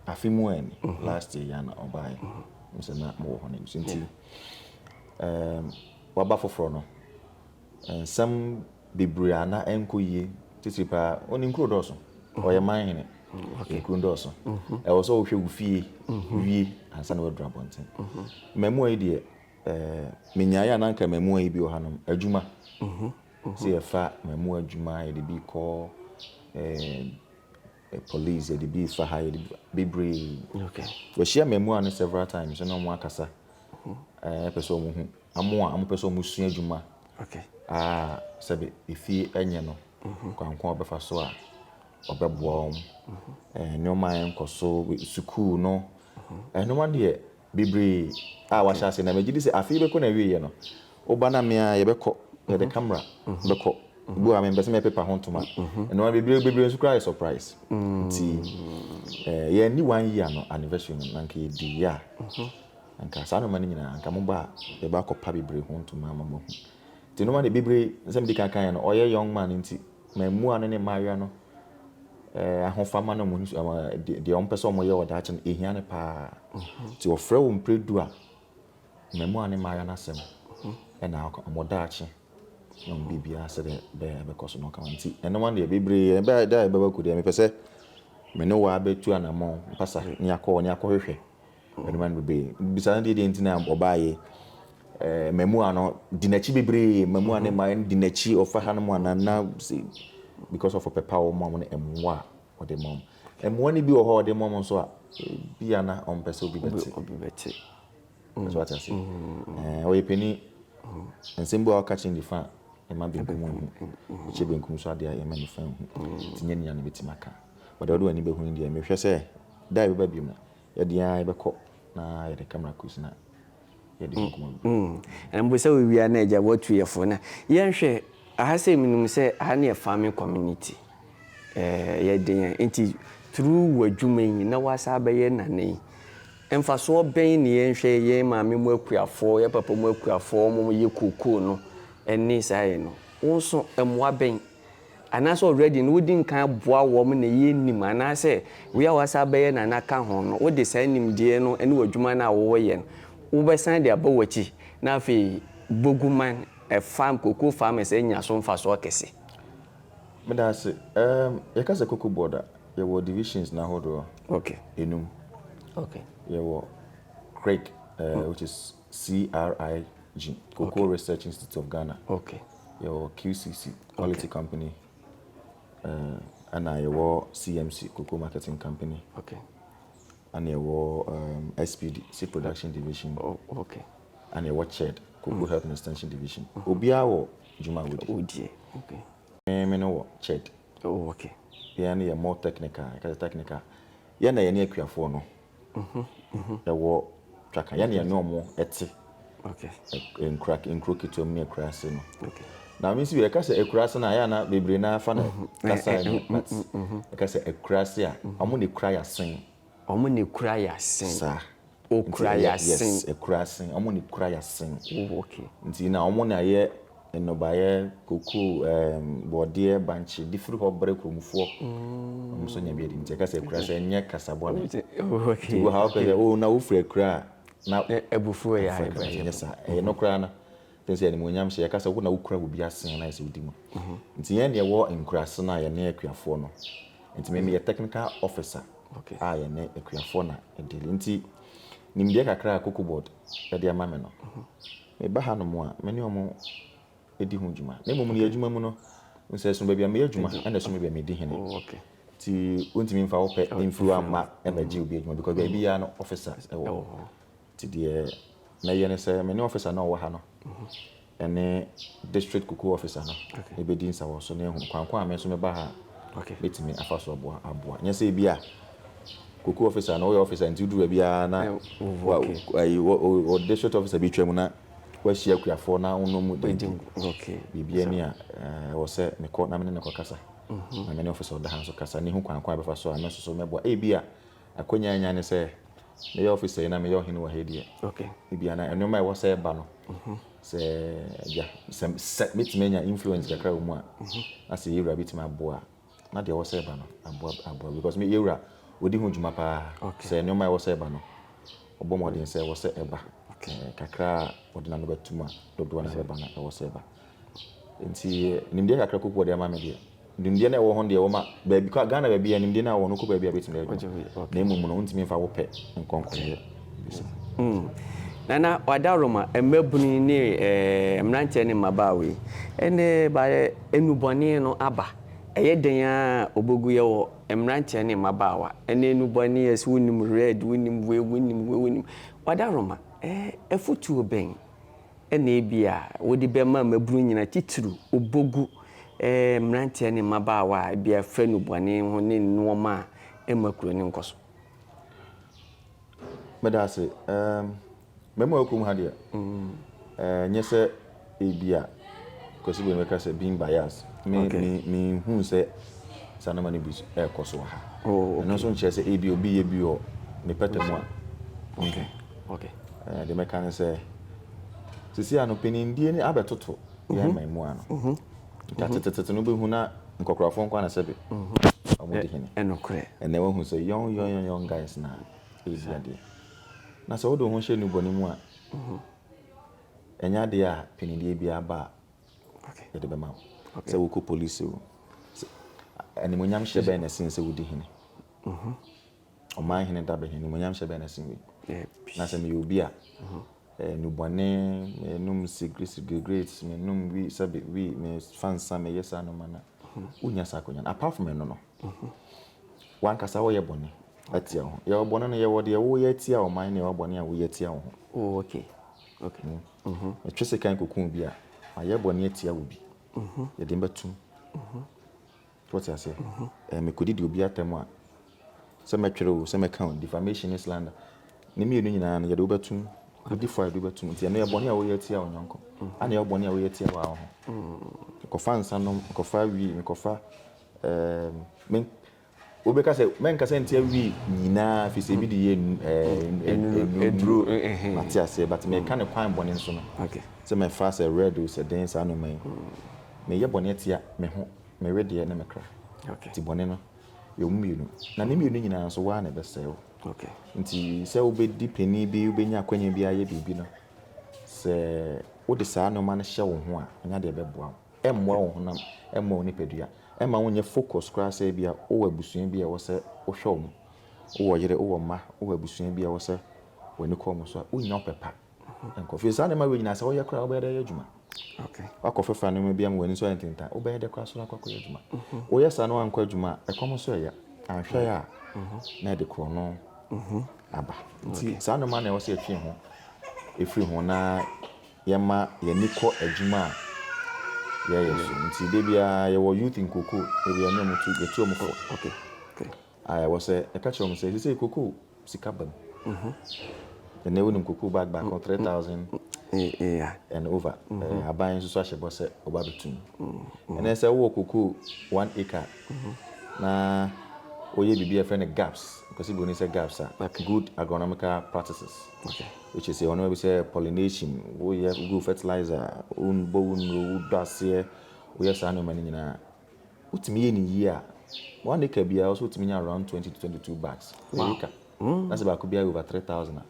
[SPEAKER 1] afe mu a ni, last year ya na ɔbaeɛ. Menim sɛ na mowɔ hɔ no nso nti. Waba foforɔ no. nsɛm bebree a na ɛnkɔ yie titiri paa o ne nkuro dɔɔso ɔyɛ mhm. man hene okay. nkuro dɔɔso mhm. ɛwɔ sɛ wohwɛ wo fie mhm. wie ansa na waduru abɔnten mmaamua yi deɛ ɛɛ menyaeɛ a na anka mmaamua yi bi wɔ hanom adwuma sɛ yɛfa mmaamua adwuma yɛde bi kɔ ɛɛ police yɛde bi refa ha yɛde bebree
[SPEAKER 3] yɛhyia mmaamua no
[SPEAKER 1] several times ɛna wɔn akasa ɛɛ pɛ sɛ wɔn ho amo a wɔn pɛ sɛ wɔn sua adwuma aa
[SPEAKER 3] sɛbi
[SPEAKER 1] efie ɛnyɛ no mhm. kwankwan a ɔbɛfa so a ɔbɛboa wɔn mhm. ɛɛ nneɛma a ɛnkɔ so sukuu no mhm. ɛɛ nneɛma deɛ. bebree a wahyɛ ase na megye di sɛ afe yi bɛkɔ n'awieɛ no wo ba na me a yɛbɛkɔ yɛde camera bɛkɔ bi wɔ ha mempɛ sɛ mɛpepa ho ntoma ɛno a bebree bebree nso koraa yɛ surprise nti eh, yɛanni one year no anniversary no na nka yɛdi yɛ a nka saa nnoɔma no nyinaa nka mo ba a yɛba akɔpa bebree ho ntoma ama moahu nti nnoɔma de bebree nsɛm di kan kan yɛ no ɔyɛ young man nti mammua no ne mmaayewa no ahofama na wɔn deɛ wɔn pɛ sɛ wɔn yɛ wɔ daakye no ehia no paa nti wɔfrɛ wɔn mpere du a mmaamua ne mmaayewa n'asɛm ɛna akɔ wɔn daakye na wɔn biribiara sɛ deɛ bɛyɛ ɛbɛkɔ so na ɔka wɔn nti ɛno wɔn deɛ bebree yɛ bɛyɛ da a ɛbɛba ku deɛ mepɛ sɛ me ne wɔn abɛtu anamɔn mpasa ne akɔ ne akɔhwehwɛ Mede ma no bebree. Bisa no deɛ deɛ nti na ɔbaeɛ. Ɛɛ mmaamua no di n'akyi bebree. Mmaamua ne mmaa no di n'akyi. Ɔfa ha no mu anaa na se because of ɔpɛ pa a wɔma wɔn no mmoa a ɔde ma wɔn. Mmoa no bi wɔ hɔ a ɔde ma wɔn nso a bi a na ɔmpɛ sɛ obi bɛte. Obi bɛte. Nso ate ase. Ɛɛ ɔyɛ panin. Nsɛm bi a ɔka kyerɛ nifa a ɛma benkum hu. Ɛkyɛ benkum nso adeɛ a ɛma nifa hu. Nti nyɛ nea na bɛtumi aka. Wɔde ɔde w'ani bɛhu no deɛ mehwɛ sɛ da a ɛbɛba bio no Yɛde yɛn ara yɛbɛkɔ na yɛde camera case na yɛde yɛn nkɔmmɔ bɛbɔ. Mm. Mpo sɛ wowie
[SPEAKER 3] a na Agya woatu yɛn fo na yɛnhwɛ aha sɛ menim sɛ aha no yɛ farming community eh, yɛde yɛn nti through w'adwuma yi na woasan abɛyɛ nana yi mfasoɔ bɛn na yɛnhwɛ yɛn maame mu akuafoɔ, yɛn papa mu akuafoɔ wɔn yɛ cocoa no ɛne saa yɛ no wo nso mmoa bɛn anaasɛ already no wodi nkan boa wɔn na ɛyɛ nim anaasɛ wei a woasan abɛyɛ na na ka ho no wode saa nimdeɛ no ne w'adwuma no a woyɛ no wobɛsan de aba w'akyi na afei Boguman farm cocoa farmers anya so mfasoɔ kɛse. Meda
[SPEAKER 1] ase. Ɛɛm, yɛka sɛ cocoa board a, yɛwɔ divisions no ahodoɔ Okay. nnum. Okay.
[SPEAKER 3] Yɛwɔ
[SPEAKER 1] Craig, ɛɛ, which is CRIG, Cocoa Research Institute of Ghana. Okay. Yɛwɔ
[SPEAKER 3] QCC,
[SPEAKER 1] Quality okay. Company. Uh, ɛna yɛwɔ CMC, Cocoa Marketing Company. Okay.
[SPEAKER 3] Ɛna
[SPEAKER 1] yɛwɔ um, SPD, Seed Production Division. Oh, okay.
[SPEAKER 3] Ɛna yɛwɔ CHED,
[SPEAKER 1] Cocoa mm. Health and Extension Division. Mm. Obiara wɔ dwuma wodi. Wodie, okay.
[SPEAKER 3] Me, me no wɔ
[SPEAKER 1] CHED. Oh, okay.
[SPEAKER 3] Yɛn no yɛ more
[SPEAKER 1] technical, ɛka technical. Yɛn na yɛne akuafoɔ no. ɛwɔ twaka yɛne yɛne ɔmo ɛte
[SPEAKER 3] nkura
[SPEAKER 1] nkuro ketewa mu ne akuraase no na me nso
[SPEAKER 3] bi ɛka sɛ
[SPEAKER 1] akuraase no a yɛ ana bebree na afa no kasa ɛnyɛ but ɛka sɛ akuraase a ɔmo ne kura yasen ɔmo ne kura
[SPEAKER 3] yasen saa
[SPEAKER 1] okura
[SPEAKER 3] yasen yes akuraase ɔmo
[SPEAKER 1] ne kura yasen oh okay nti
[SPEAKER 3] na ɔmo na
[SPEAKER 1] yɛ Nnɔbaeɛ, kokoo, ɛɛm, borɔdeɛ, bankye, de firi hɔ brɛ kuromfoɔ. Wɔn nso nya bi adi. Nti ɛka sɛ Akura sɛ ɛnyɛ kasa bɔne. Nti wɔ ha wopɛ sɛ,
[SPEAKER 3] oh, na
[SPEAKER 1] wofiri Akura a, na Abufuo yɛ adeɛ
[SPEAKER 3] bɛn? Ɛnyɛ saa. Ɛyɛ no
[SPEAKER 1] koraa no. Ɛfiri sɛ animuonyam hyɛ, yɛka sɛ wo na wokura wo bi asen na ayɛ sɛ wodi mu. Nti yɛn deɛ ɛwɔ nkuraase no a yɛne Akuafoɔ no. Nti me meyɛ technical officer a yɛne
[SPEAKER 3] Akuafoɔ
[SPEAKER 1] na ɛdili. Nti nimdeɛ kakra a Kokobot de ama me no. Meba hanom a, me ne wɔn di ho dwuma, na mmom nea adwuma mu no, nsɛso baabi a meyɛ adwuma na ɛso baabi a medi hene. Enti
[SPEAKER 3] wontumi
[SPEAKER 1] mfa wo pɛ mfiri hɔ mma mmɛgye obi adwuma, because baabiara no ɔfisa wɔ hɔ. Enti deɛ mɛyɛ ne sɛ, me ne ɔfisa no a ɔwɔ ha no ne district kukuo ɔfisa no bɛdi nsawɔso na yɛahunu kwan ko a me nso meba ha a mɛtumi afa
[SPEAKER 3] so
[SPEAKER 1] aboa. Nyɛ sɛ ebia. Koko officer no woyɛ officer nti wodu baabi ara na wɔ district officer bi twam na wahyia akuafoɔ na wonom mu di biribi
[SPEAKER 3] ani a
[SPEAKER 1] ɛwɔ sɛ mekɔ na mene ne kɔkasa mhm. na mene officer ɔda ha nso kasa ne ho kwan kwan bɛfa so a me soso mɛboa ebi a akwanya anya ne sɛ meyɛ officer yi na meyɛ ɔhene wɔ ha deɛ ebi ana
[SPEAKER 3] nneɛma a ɛwɔ
[SPEAKER 1] sɛ ɛba no mhm. sɛ agya sɛ mɛtumi anya influence kakra wɔ mu a mhm. na sɛ yɛwura bɛtumi aboa Na deɛ ɛwɔ sɛ ɛba no, aboa aboa because me yɛwura ɔdi ho dwuma paa okay. sɛ nneɛma ɛwɔ sɛ ɛba no ɔbɔ mmɔden sɛ ɛwɔ sɛ ɛba okay. eh, kakra a ɔde n'ano bɛtum a dodoɔ no ɛbɛba no ɛwɔ sɛ ɛba nti nimdeɛ kakra koko ɔde ama me deɛ nimdeɛ no ɛwɔ ho deɛ wɔma baabi kɔ Ghana baabi a nimdeɛ no a wɔn kɔ baabi a bɛtumi adwuma na mmom no wontumi mfa wo pɛ nkɔnkɔyɛ
[SPEAKER 3] Nana Adaworoma, Mmabunu ne mmeranteɛ ne mmabaa wei, ɛnnɛ baayɛ nnubɔne no aba. Ɛyɛ dɛn ara a ɔbɛgu yɛwɔ mmeranteɛ ne mmabaawa. Ɛnnɛ nnubɔne yɛ sɛ wonim red, wonim wei, wonim wei, wonim. Ɔdaworoma, afutuo bɛn na ebia wode bɛma mmabunu nyinaa titiriw ɔbɛgu mmeranteɛ ne mmabaawa a ebia ɛfa nnubɔne ho ne nnoɔma a ɛmma kuro no nkɔ so.
[SPEAKER 1] Meda ase. Ɛɛm, mmarima a wɔwɔ kurom ha deɛ, ɛɛ nyɛ sɛ ebi a Kwasi Boyne bɛka sɛ being biased. Me Okay. me menhu sɛ saa nneɛma no bi so ɛrekɔ so wɔ ha. Oh, okay. Ɛno nso nkyerɛ sɛ ebi a obi yɛ bi wɔ ne pɛtɛ mu a.
[SPEAKER 3] Okay, okay. Ɛɛ deɛ mɛka
[SPEAKER 1] ne sɛ, seesei ano mpanimdie no abɛtoto. yɛ mhm. man mu a no mhm. nka mhm. tetetete no bɛhu na nkɔkorafoɔ nkɔ ana sɛbe ɔmodi hene ɛnɛ wahu
[SPEAKER 3] sɛ yɔn
[SPEAKER 1] yɔn yɔn guys na ɛyɛsi adeɛ na sɛ wode wo ho hyɛ nnubɔne mu a ɛnyɛ adeɛ a panideɛ biara ba a yɛde bɛma wo sɛ wokɔ polisi o animonyam hyɛ bɛn na ɛsen sɛ wodi hene Ɔman Hene Dabɛn Animuonyam Hyɛ Bɛn na Sen Wei? Na sɛ meyɛ obi a, nnubɔne, menom cigarettes, menom wii, sɛbe wii, mefa nsa, meyɛ saa nneɛma no a, wonnya saa akwanya no. Apart from ɛno no, w'ankasa woyɛ bɔne atia wo ho. Yɛwɔ bɔne no, yɛwɔ deɛ woyɛ atia ɔman na yɛwɔ bɔne a woyɛ atia wo ho. Oh, okay.
[SPEAKER 3] Okay. Mhm.
[SPEAKER 1] Metwe sekan kɔku obi a, mayɛ bɔne atia obi. Yɛde me bɛtom. Wote aseɛ? Mekɔdi di obi atɛm a, sɛ mɛtwerɛ o, sɛ mɛka o, defamation ne slander. Ne mmienu nyinaa no, yɛde wobɛtum, bɛdi fɔ a yɛde wobɛtum. Nti ɛno yɛ bɔne a woyɛ atia wo yɔnko. Ana yɛ bɔne a woyɛ atia wo ara ho. Mekɔfa nsa nom, mekɔfa wii, mekɔfa, ɛɛm, me, wobɛka sɛ, mɛnkasa ntia wii nyinaa, fi sɛ ebi de yɛ nnuro, mate aseɛ, but meka ne kwan bɔne nso no. Sɛ mɛfa sɛ
[SPEAKER 3] red
[SPEAKER 1] o, sɛ dɛn saa nneɛma yi. Meyɛ bɔne atia me ho. me wedeɛ ne me kra. Okay. Nti bɔne no yɛ wɔn mmienu. Na ne mmienu nyinaa nso waa na ɛbɛsɛe wo. Okay. Nti
[SPEAKER 3] sɛ
[SPEAKER 1] wobɛdi panin bi wobɛnya akwanya bi ayɛ biribi no, sɛ wode saa nneɛma no hyɛ wo ho a, nya deɛ ɛbɛboa wo. Ɛmmoa wo honam, ɛmmoa wo nipadua. Ɛma wonyɛ focus koraa sɛ bi a wowɔ abusua bi a ɛwɔ sɛ wohwɛ wɔn. Wowɔ yere, wowɔ mma, wowɔ abusua bi a ɛwɔ sɛ w'ani kɔ wɔn so a, wonnya ɔpɛ pa. Nkɔ fie. Saa nneɛma wei nyinaa sɛ woyɛ koraa wobɛyɛ dɛ yɛ adwuma. Wakɔ
[SPEAKER 3] fɛfra nneɛma bi
[SPEAKER 1] ama w'ani so ayɛ ntentan. Wobɛyɛ dɛ koraa so na akɔakɔyɛ adwuma. Woyɛ saa na wankɔ adwuma a ɛkɔm nso ɛyɛ. Anhwɛ yɛ a na ɛde korɔno aba. Nti saa nneɛma na ɛwɔ sɛ yɛtwe ho ɛfiri ho na yɛma yɛni kɔ adwuma a yɛyɛ so. Nti da biara yɛwɔ youth nkoko da biara ne ɔmo tu yɛtu ɔmo kɔ.
[SPEAKER 3] Ae, ɛwɔ
[SPEAKER 1] sɛ ɛka kyerɛ wɔn sɛ seesei cocoa sika ba mu. Ɛnnɛ wonim cocoa bag baako three
[SPEAKER 3] thousand and over.
[SPEAKER 1] Aban nso so ahyɛ bɔ sɛ ɔba abɛtu no. Ɛnnɛ sɛ wowɔ cocoa one acre na woyɛ biribi a yɛfrɛ no GAPS, Kwesi Broni sɛ GAPS a, Good Agronomical Practices, which is
[SPEAKER 3] nneɛma bi sɛ
[SPEAKER 1] pollination, woyɛ, wogu fertilizer, wobɔ wo nnuro, wodɔ aseɛ, woyɛ saa nneɛma no nyinaa a, Wotumi yɛ no yie a, one acre biara wo nso wotumi nya around twenty to twenty two bags per acre. Mm. Na sɛ baako biara yɛ over three thousand a,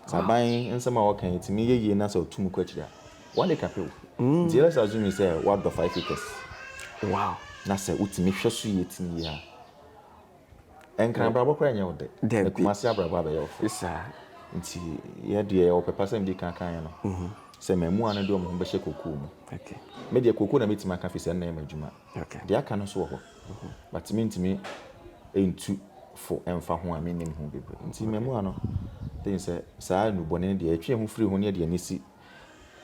[SPEAKER 1] sɛ aban nsɛm a wɔka yi tumi yɛ yie na sɛ ɔtum kɔ akyiri a, one acre pɛ o. Mm. Nti let's assume sɛ wadɔ five acres. Wow.
[SPEAKER 3] Na sɛ wotumi
[SPEAKER 1] hwɛ so yie tumi yie a. Ɛnkran abrabɔ koraa nyɛ wo dɛ. Dabi. Na Kumasi abrabɔ abɛyɛ wo fɛ. Esi saa. Nti yɛ deɛ yɛwɔ pɛpa sɛ medi kan kaeɛ no, sɛ mmaamua no de wɔn ho bɛhyɛ kokoo mu. Okay. Me deɛ
[SPEAKER 3] kokoo na
[SPEAKER 1] mɛtumi aka firi sɛ ɛno na ɛyɛ m'adwuma. Okay. Deɛ aka no nso
[SPEAKER 3] wɔ hɔ.
[SPEAKER 1] But mentumi ntu fo mfa ho a mennim ho bebree. Nti mmaamua no, I think sɛ saa nnubɔne no deɛ yɛtwe yɛn ho firi ho na yɛde yɛn ani si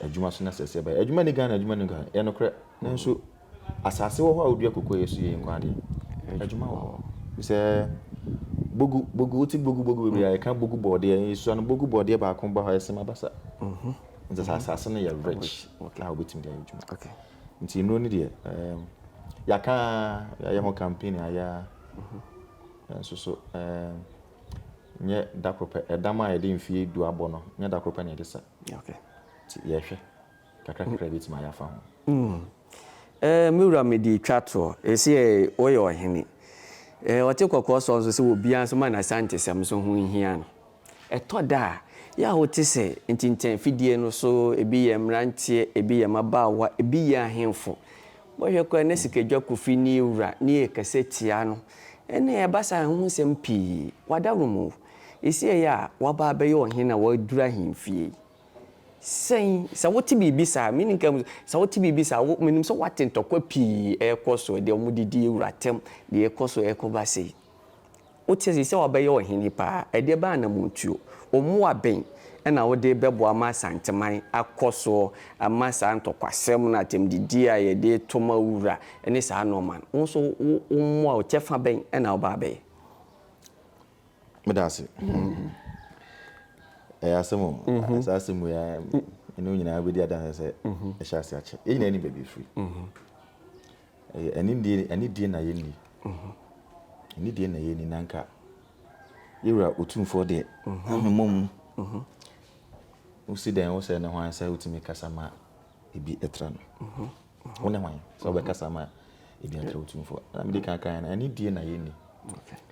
[SPEAKER 1] Adwuma so na sɛsɛɛ ba. Adwuma ni Ghana, adwuma ni Ghana. Ɛyɛ nokorɛ. Nanso asase wɔ hɔ a wodua koko a ɛyɛ so yie nko ara deɛ, adwuma wɔ hɔ. Ɛfiri sɛ bogu bogu wote bogu bogu bebree a yɛka bogu bɔɔdeɛ nsuo ano bogu bɔɔdeɛ baako ba hɔ a ɛsem abasa. Mhm. Nti sɛ asase no yɛ rich a wobɛtumi de ayɛ adwuma. Okay. Nti
[SPEAKER 3] nnuro no
[SPEAKER 1] deɛ um, yɛaka ara, yɛayɛ ho campaign ayɛ ara. Mhm. Nanso so um, nyɛ da koro pɛ. Ɛdam a yɛde mfeɛ du abɔ no, nyɛ da koro pɛ na yɛde sa. Nti
[SPEAKER 3] yɛhwɛ
[SPEAKER 1] kakra kakra yɛbɛtumi ayɛ afa ho.
[SPEAKER 3] Mm. Me wura mede retwa toɔ. Ɛsɛ woyɛ ɔhene. Ɔte kɔkɔɔ sɔɔ nso sɛ obiara nso ma no Asantesɛm nso ho nhia no. Ɛtɔ da a, yɛ a wote sɛ ntintan afidie no so, ebi yɛ mmeranteɛ, ebi yɛ mmabaawa, ebi yɛ ahemfo. Bɔhwɛ koraa na sikadwa kofi ne wura ne yɛ kɛsɛ tia no ɛna ɛba saa ho nsɛm pii wada nom o ɛsiɛ yɛ a waba abɛyɛ ɔhen na waduru ahenfie yi sɛn sɛ wote biribi saa me nka mu sɛ wote biribi saa wo menim sɛ wate ntɔkwa pii ɛkɔ so deɛ wɔn didi wura tɛm deɛ ɛkɔ so ɛkɔ ba sei Wote sɛ wɔbɛyɛ ɔhene paa. Ɛdeɛ bɛn anammɔntuo, mmoa bɛn na wode bɛboa ma Asanteman akɔ so ama saa ntɔkwasɛm no, atɛmdidie a yɛde reto ma wura ne saa nnoɔma no? Wo nso wo mmoa, wo kyɛfa bɛn na wobɛ abɛyɛ? Meda
[SPEAKER 1] ase. Ɛyɛ asɛm o. Saa asɛm wei ara, me ne wo nyinaa bɛdi adanseɛ sɛ ɛhyɛ ase akyɛ. Yɛn nyinaa nim baabi ɛfiri. Ɛyɛ anidie anidie na yɛnni. Anidie na yɛnni na nka yɛwura otumfoɔ deɛ ahwemmɔ mu. Wosi dɛn wo sɛ ne hwan sɛ wotumi kasa ma ebi tra no. Wo ne hwan sɛ wobɛkasa ma ebi atra otumfoɔ. Na mede kankan no anidie na yɛnni.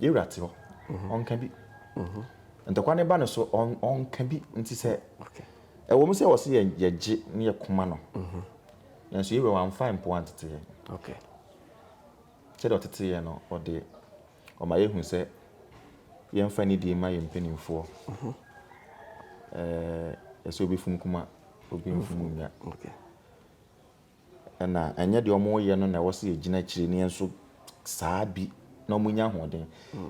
[SPEAKER 1] Yɛwura te hɔ, ɔnka bi. Ntɔkwa ne ba no so, ɔnka bi. Nti sɛ ɛwɔ
[SPEAKER 3] mu sɛ wɔ se
[SPEAKER 1] yɛgye ne yɛ koma no, nanso yɛwura wamfa mpoa ntete yɛn. Sɛdeɛ ɔtete yɛn no, ɔde ɔma yɛhu sɛ yɛmfa nidie mma yɛn mpanimfoɔ. Ɛsɛ obi funu kuma, obi mfunu nya. na ɛnyɛ deɛ wɔyɛ no na ɛwɔ sɛ yɛgyina akyire na yɛn nso saa bi na wɔnya ahoɔden.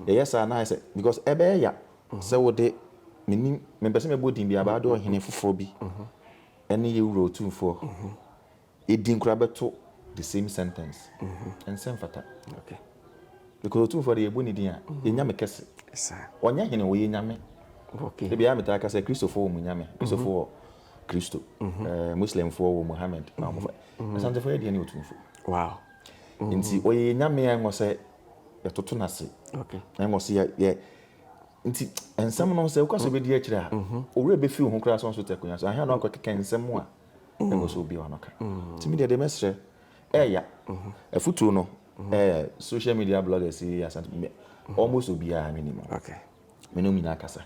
[SPEAKER 1] Yɛyɛ saa na ayɛ sɛ because ɛbɛyɛ ya sɛ wode menim mempɛ sɛ mɛbɔ din bi abaa de ɔhene foforɔ bi ne yɛ wura otumfoɔ din koraa bɛto the same sentence ɛnsɛ mfata
[SPEAKER 3] because
[SPEAKER 1] otumfoɔ de yɛbɔ ne din a yɛnya me kɛse ɔnyɛ
[SPEAKER 3] hene ɔyɛ nyame
[SPEAKER 1] ebi a
[SPEAKER 3] metaa ka sɛ
[SPEAKER 1] kristofo wɔ mu nyame kristofo wɔ Kristo. Mhm. Eh, Muslimfoɔ wɔ Muhammad. Mhm. Wɔfa mhm. Asantefoɔ yɛ deɛ ne otumfo. Wow.
[SPEAKER 3] Nti
[SPEAKER 1] ɔyɛ nyame a ɛwɔ sɛ yɛtoto no ase. Okay. Ɛwɔ sɛ yɛ
[SPEAKER 3] yɛ
[SPEAKER 1] nti nsɛm no sɛ wokɔ sɛ bɛdi akyire a owura bɛfi wo ho koraa sɛ ɔnso te akonnwa so ahwɛ na ɔkɔkeka nsɛm a ɛwɔ sɛ obi a ɔno ka nti medeɛ deɛ mɛserɛ ɛya afotuo no social media bloggers yi asante almost obiara menim okay me ne
[SPEAKER 3] wɔn nyinaa
[SPEAKER 1] kasa.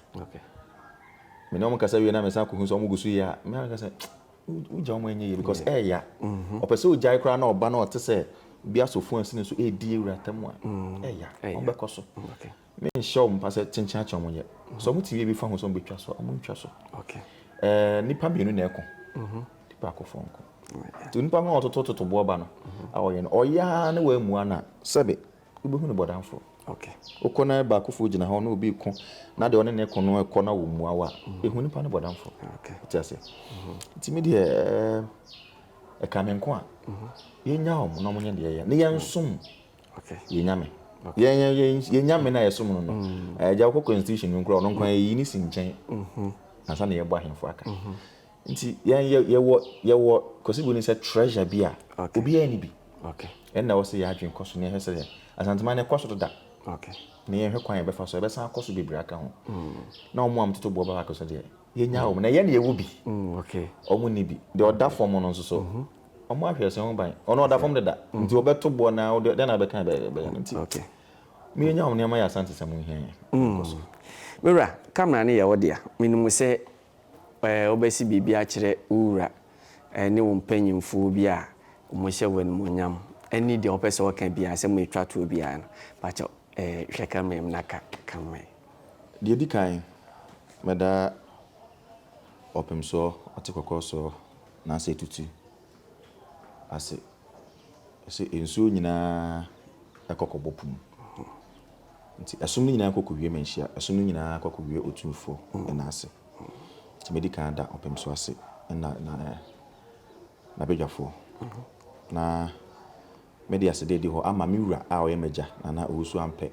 [SPEAKER 3] Me ne
[SPEAKER 1] wɔn kasa wie na me san kohu sɛ wɔn gu so yɛ a, me ara kasa wogya wɔn ɛnyɛ yie because ɛɛya. Mm-hmm. Ɔpɛ sɛ ogyae koraa na ɔba na ɔte sɛ bi asofo ɛsi ne so ɛɛdi ewura tam a mm. ɛɛya. Wɔn bɛkɔ so. Me nhyɛ
[SPEAKER 3] wɔn mpa
[SPEAKER 1] sɛ kyenkyeakyea wɔn yɛ. Mm-hmm. So wɔn ti wie bi fa ho sɛ wɔn bɛtwa so a wɔn ntwa so. Ɛɛ
[SPEAKER 3] nipa mmienu
[SPEAKER 1] na ɛko. Mm-hmm. Nipa akofo nko. Nti nipa no ɔtotototo boɔ ba no a ɔyɛ no ɔyaa ne wɔn amua na sɛbe. wobɛhu no bɔdamfoɔ. Wokɔ na
[SPEAKER 3] baakofoɔ
[SPEAKER 1] gyina hɔ na obi reko na deɛ ɔne ne ko no kɔ na wɔmmua wo a, ɛhu nipa no bɔdamfoɔ. Ti aseɛ. Nti me deɛ ɛka me nko a yɛnya wɔn na wɔnyɛ deɛ yɛ na yɛnsom
[SPEAKER 3] yɛnya me.
[SPEAKER 1] Yɛnya me na yɛsom no no. Agya wokɔ constitution no nkura ɔno nkwan yɛyi ne si nkyɛn ansa na yɛbɔ ahemfo aka. Nti yɛn yɛ yɛwɔ yɛwɔ Kwasi Boni sɛ treasure bi a obiara nni bi. Ɛnna ɛwɔ
[SPEAKER 3] sɛ yɛn adwene
[SPEAKER 1] kɔ so na yɛhwɛ sɛ yɛn Asanteman no ɛkɔ so deda na
[SPEAKER 3] yɛnhwɛ kwan a yɛbɛfa
[SPEAKER 1] so a ɛbɛsan akɔ so bebree aka ho. Na wɔn a wɔtoto boɔ ba baako so deɛ, yɛnyaa wɔn na yɛn na yɛwɔ bi,
[SPEAKER 3] wɔn nni bi.
[SPEAKER 1] Deɛ ɔda fam no nso so, wɔn ahwe ɛsɛn ho ban. Ɔno ɔda fam deda, nti wɔbɛto boɔ no ara, wodeɛ dɛn na wobɛka a ɛbɛyɛ no? Nti
[SPEAKER 3] mo yɛnya wɔn
[SPEAKER 1] nneɛma yɛ Asantesɛm ho hia yɛn. Yɛnkɔ so. Me wura,
[SPEAKER 3] camera no yɛ wo dea. Menim sɛ Wobɛsi biribi akyerɛ wo wura ne wo mpanimfoɔ bi a wɔhyɛ wo animuonyam ne deɛ wopɛ sɛ ɔka biara sɛ moretwa toɔ biara no, pakyɛ hwɛ camera mu na ka ka ma yɛn. Deɛ ɛdi
[SPEAKER 1] kan, mɛda ɔpem soɔ, ɔte kɔkɔɔ soɔ, anaasɛ tutu ase sɛ nsuo nyinaa kɔ kɔbɔ po mu. Nti ɛsom no nyinaa kɔ kowie manhyia ɛsom no nyinaa kɔ kowie Otumfo nna ase nti mɛdi kan ada ɔpem so ase nna na nabadwafoɔ na mɛde aseda adi hɔ ama me wura a ɔyɛ m'agya Nana Owusu Ampɛ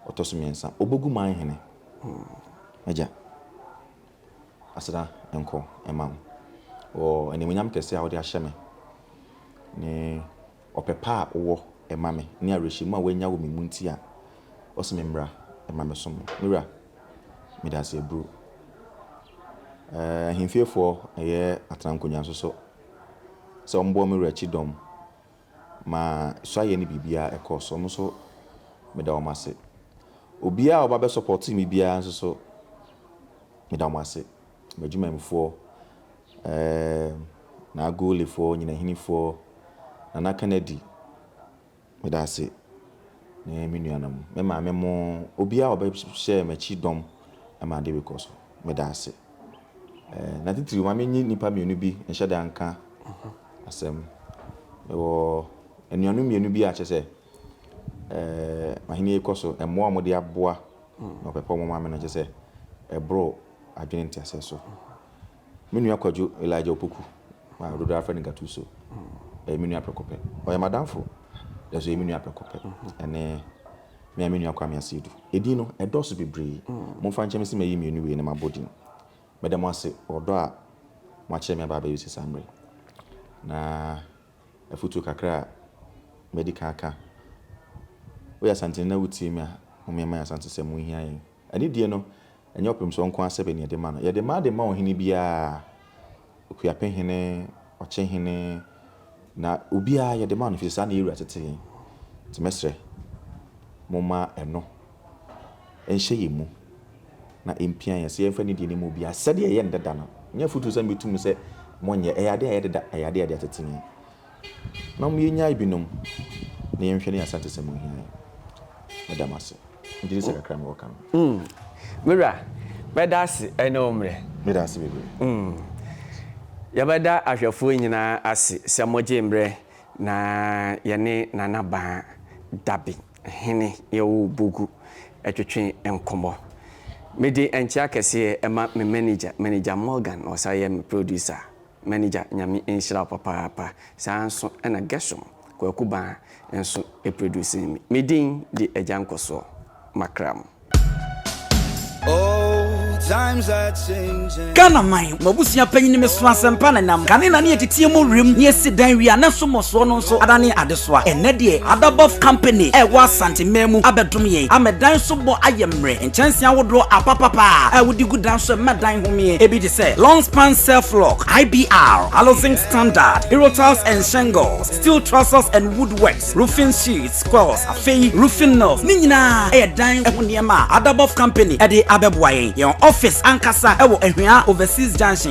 [SPEAKER 1] ɔtɔ so mmiɛnsa Obogu man hene m'agya aseda nkɔ mma wo wɔ animuonyam kɛse a wode ahyɛ me ne ɔpɛ pa a wowɔ ma me ne awerɛhyɛmu a woanya wɔ me mu nti a ɔse me mmra ma me som wo. Me wura, meda ase aburu. Ahemfiefoɔ yɛ atena nkonwa nso so sɛ wɔn boɔ me wura kyidɔm ma suayɛ ne biribiara ɛkɔɔ so. Wɔn nso meda wɔn ase. Obiara a ɔba bɛ sɔpɔte me biara nso so meda wɔn ase. M'adwumanfoɔ, Eeeemm Naa Golefoɔ Nyinahinifoɔ Nana Kanadi Meda ase ne me nuanom me maame mo obiara a ɔbɛhyɛɛ m'akyi dɔm ma ade rekɔ so meda ase Eeemm Na titiriw ma menye nnipa mmienu bi nhyɛ da nka asɛm Mewɔ anuanom mmienu bi a kyerɛ sɛ eeemm m'ahenni rekɔ so mmoa a wɔde aboa na wɔpɛ pɛ wɔn ma me no kyerɛ sɛ ɛboro adwene nteaseɛ so Me nua Kwadwo, Elijah Opoku, a dodoɔ ara frɛ no Gattuso, yɛ me nua prɛko pɛ. Ɔyɛ m'adamfo, nanso ɔyɛ me nua prɛko pɛ. Ɛne me ara me nua Kwame Asiedu. Edin no, ɛdɔɔso bebree. Momfa nkyɛ me sɛ mayi mmienu wei na mabɔ din. Meda mo ase wɔ ɔdɔ a moakyerɛ me aba abɛyɛ osi saa mmerɛ yi. Na afotuo kakra a madi kan aka, woyɛ Asanteni na wotie me a, mommeɛma yɛn Asantesɛm ho nhia yɛn. Anidie no, ɛnyɛ ɔpemsoɔ nko ara sɛbɛ na yɛde ma no. Yɛde ma de ma ɔhene biara, Okuapehene, Ɔkyehene, na obiara yɛde ma no ɛfiri sɛ saa na yɛn wura tete yɛn. Nti mɛsrɛ, momma ɛno nhyɛ yɛn mu na ɛmpia yɛn sɛ yɛmfa anidie no mma obiara sɛdeɛ ɛyɛ no dada no. Ɛnyɛ afotuo sɛ mebɛtu mu sɛ monyɛ, ɛyɛ adeɛ a ɛyɛ deda, ɛyɛ adeɛ a yɛde atete yɛn. na mo yɛnyae binom na yɛnhwɛ ne Asantesɛm mu hia yi. Meda mo ase. Megye di sɛ kakra mewɔ
[SPEAKER 3] ka no.
[SPEAKER 1] Mm. Me wura, mɛda ase
[SPEAKER 3] ɛne wo
[SPEAKER 1] mmerɛ. Meda ase bebree. Mm.
[SPEAKER 3] Yɛbɛda ahwɛfoɔ nyinaa ase sɛ mogyee mmerɛ na yɛne Nana Baa Dabi Hene Yaw Bogu twetwe nkɔmmɔ. Mede nkyea kɛseɛ ma me manager, Manager Morgan, na ɔsan yɛ me producer. Manager Nyame nhyira wo papaapa. Saa nso na Gershom Kwaku Baa nso produce me. Me din de Agya Nkɔsoɔ Makram.
[SPEAKER 4] Old times are changing. Ghana man, mo
[SPEAKER 5] abusua panyin me so asɛmpa na nam kane na ne yɛteteɛ mu wim ne yɛsi dan wie a na nso mmɔsoɔ no nso adane adesoa. Ɛnnɛ deɛ Adabɔf Company a ɛwɔ Asante man mu abɛdom yɛn ama dan so bɔ ayɛ mmerɛ. Kyɛnsee ahodoɔ apapapa a wode gu dan so mma dan homee ebi te sɛ, long span self lock, IBR, Halozinc standard, Hero tiles and shingles, steel trusses and wood works, roofing sheets, coils, afei roofing nails, ne nyinaa yɛ dan ho nneɛma a Adabov Company de abɛboa yɛn. Yɛn office ankasa wɔ Ahuaa Overseas Junction.